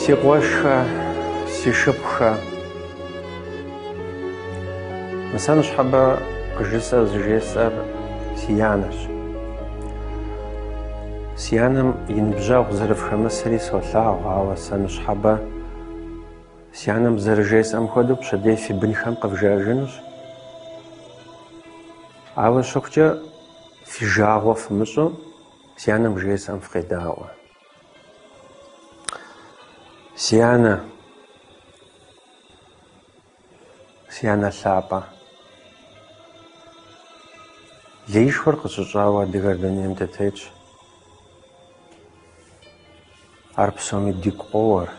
Си къуэшхэ, си шыпхъухэ. Мы сэ ныщхьэбэ къыжысӏэр зыжесӏэр си анэщ. Си анэм и ныбжьэгъу зэрыфхэмысри солъагъу, ауэ сэ ныщхьэбэ Си анэм зэрыжесӏэм хуэдэу пщэдей фи бынхэм къывжаэжынущ. Ауэ щыхъукӏэ, фи жагъуэ фымыщӏу, си анэм жесӏэм фыкъедаӏуэ. Си анэ, си анэ лъапӏэ, леишхуэр къыщыщӏауэ адыгэр дунейм дытетщ. ар псоми дигу къоуэр.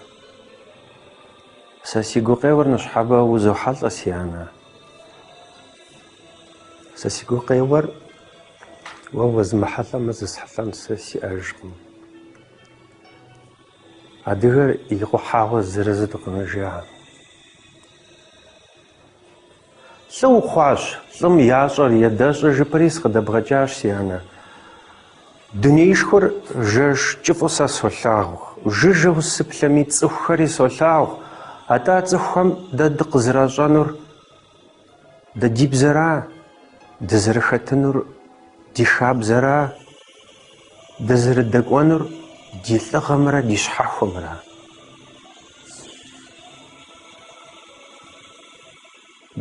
Сэ си гукъеуэр ныщхьэбэ узохьэлӏэ, си анэ. Сэ си гукъеуэр уэ уэзмыхьэлӏэмэ зесхьэлӏэн сэ сиӏэжкъым. Адыгэр икъухьауэ зырызу дыкъэнэжа. Лӏы ухъуащ, лӏым ящӏэр ядэщӏэ жыпӏэри сыкъыдэбгъэкӏащ, си анэ. Дунеишхуэр жэш кӏыфӏу сэ солъагъу, жыжьэу сыплъэми цӏыхухэри солъагъу, атӏэ цӏыхухэм дэ дыкъызэращӏэнур дэ ди бзэра, дызэрыхэтынур ди хабзэра? Дызэрыдэкӏуэнур ди лӏыгъэмрэ ди щхьэхуэмрэ?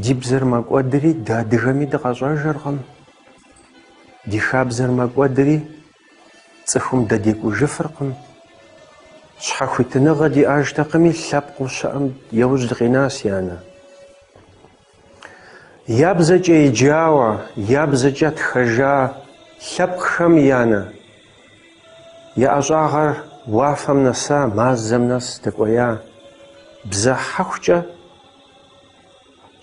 Ди бзэр мэкӏуэдри, дэ адыгэми дыкъэщӏэжыркъым. Ди хабзэр мэкӏуэдри, цӏыхум дэ декӏужыфыркъым. Щхьэхуитыныгъэ диӏэжтэкъыми, лъэпкъыу щыӏэм яужь дыкъина, си анэ. Я бзэкӏэ еджауэ, я бзэкӏэ тхэжа лъэпкъхэм, анэ, я ӏэщӏагъэр уафэм нэса, мазэм нэс дэкӏуея бзэ хьэхукӏэ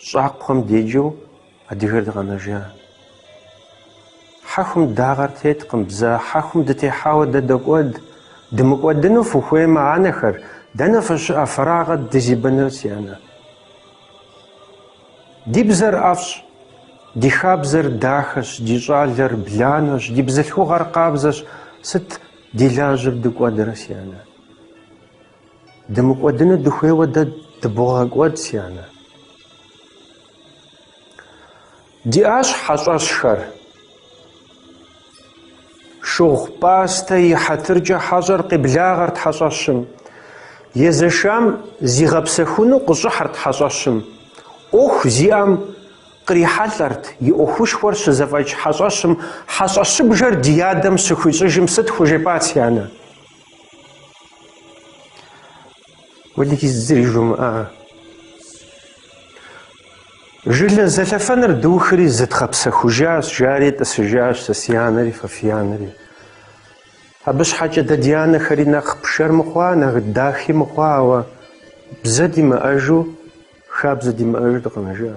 щӏакхъуэм деджэу адыгэр дыкъэнэжа. Хьэхум дагъэр теткъым, бзэ хьэхум дытехьауэ дэ докӏуэд. Дымыкӏуэдыну фыхуеймэ, анэхэр, дэнэ фыщыӏэ, фэрагъэ дызибыныр, си анэ? Ди бзэр ӏэфӏщ, ди хабзэр дахэщ, ди щӏалэр бланэщ, ди бзылъхугъэр къабзэщ, сыт ди лажьэр дыкӏуэдрэ, си анэ? Дымыкӏуэдыну дыхуейуэ дэ дыбогъэкӏуэд, си анэ. Диӏащ хьэщӏэщхэр. Шыгъу пӏастэ и хьэтыркӏэ хьэщӏэр къеблагъэрт хьэщӏэщым. Езэшам зигъэпсэхуну къыщӏыхьэрт хьэщӏэщым. ӏуэху зиӏэм кърихьэлӏэрт и ӏуэхушхуэр щызэфӏэкӏ хьэщӏэщым хьэщӏэщыбжэр ди адэм щыхуищӏыжым сыт хужепӏат си анэ? Уэлэхьи, зыри жумыӏа! Жылэ зэлъэфэныр духри зыдгъэпсэхужащ, жари тӏысыжащ сэ си анэри фэ фи анэри. Абы щхьэкӏэ дэ ди анэхэри нэхъ пшэр мыхъуа, нэхъ дахи мыхъуа, ауэ бзэ димыӏэжу, хабзэ димыӏэжу дыкъэнэжа.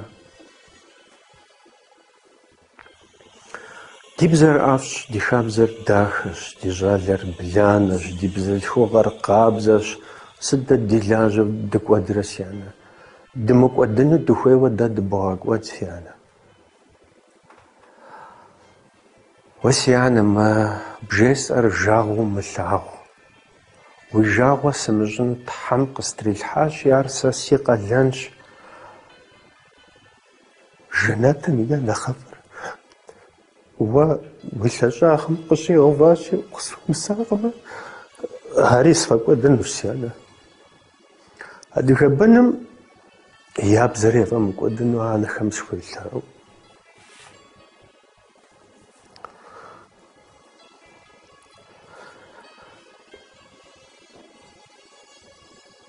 Ди бзэр ӏэфӏщ, ди хабзэр дахэщ, ди щӏалэр бланэщ, ди бзылъхугъэр къабзэщ. Сыт дэ ди лажьэу дыкӏуэдрэ, си анэ? Дымыкӏуэдыну дыхуейуэ дэ дыбгъэкӏуэд, си анэ. Уэ, си анэ, мы бжесӏэр жагъуэу умылъагъу. Уи жагъуэ сымыщӏыну Тхьэм къыстрилъхьащи, ар сэ си къалэнщ. Жэнэтым и нэхъыфӏыр уэ уи лъэщӏагъым къыщӏигъэуващи, сыхуэмысакъымэ, ари сфӏэкӏуэдынущ, си анэ. Адыгэ быным я бзэр яфӏэмыкӏуэдыну анэхэм схуелъэӏу.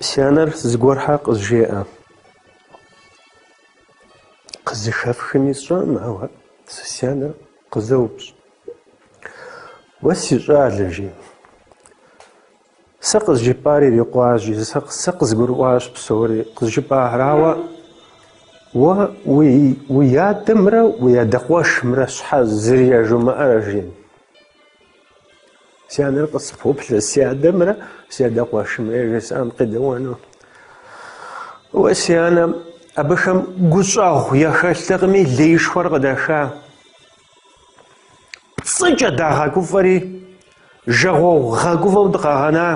Си анэр зыгуэрхэ къызжеӏэ. Къызэхэфхми сщӏэӏым, ауэ си анэр къызэупщӏ. Уэ си щӏалэ, жи. Сэ къызжыпӏар ирикъуащ, сэ къызгурыӏуащ псори къызжыпӏахэр, ауэ уэ уи адэмрэ уи адэ къуэшымрэ щхьэ зыри яжумыӏэрэ, жи? Си анэр къыспоплъэ си адэмрэ си адэ къуэшымрэ яжесӏам къедэӏуэну. Уэ, си анэ, абыхэм гущӏэгъу яхэлътэкъыми, леишхуэр къыдаха. Пцӏыкӏэ дагъэгуфӏэри, жагъуэгъу гъэгуфӏэу дыкъагъэна.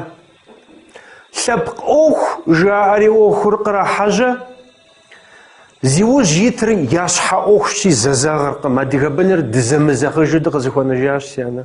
Лъэпкъ ӏуэху жаӏэри ӏуэхур кърахьэжьэ. Зи ужь итыр я щхьэ ӏуэхущи зэзэгъыркъым, адыгэ быныр дызэмызэгъыжу дыкъызэхуэнэжащ, си анэ.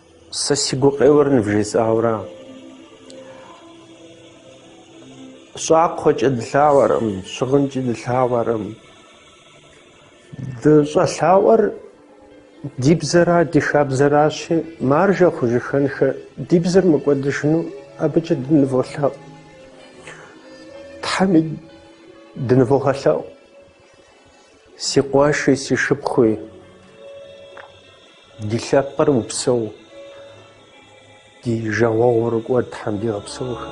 Сэ си гукъеуэр нывжесӏауэра? Щӏакхъуэкӏэ дылъаӏуэркъым, щыгъынкӏи дылъаӏуэркъым. Дыщӏэлъаӏуэр ди бзэра, ди хабзэращи, маржэ хъужыхэнхэ ди бзэр мыкӏуэдыжыну абыкӏэ дыныволъэӏу. Тхьэми дынывогъэлъэӏу. Си къуэши, си шыпхъуи, ди лъэпкъыр упсэу, ди жагъуэгъур кӏуэд Тхьэм дигъэпсэухэ.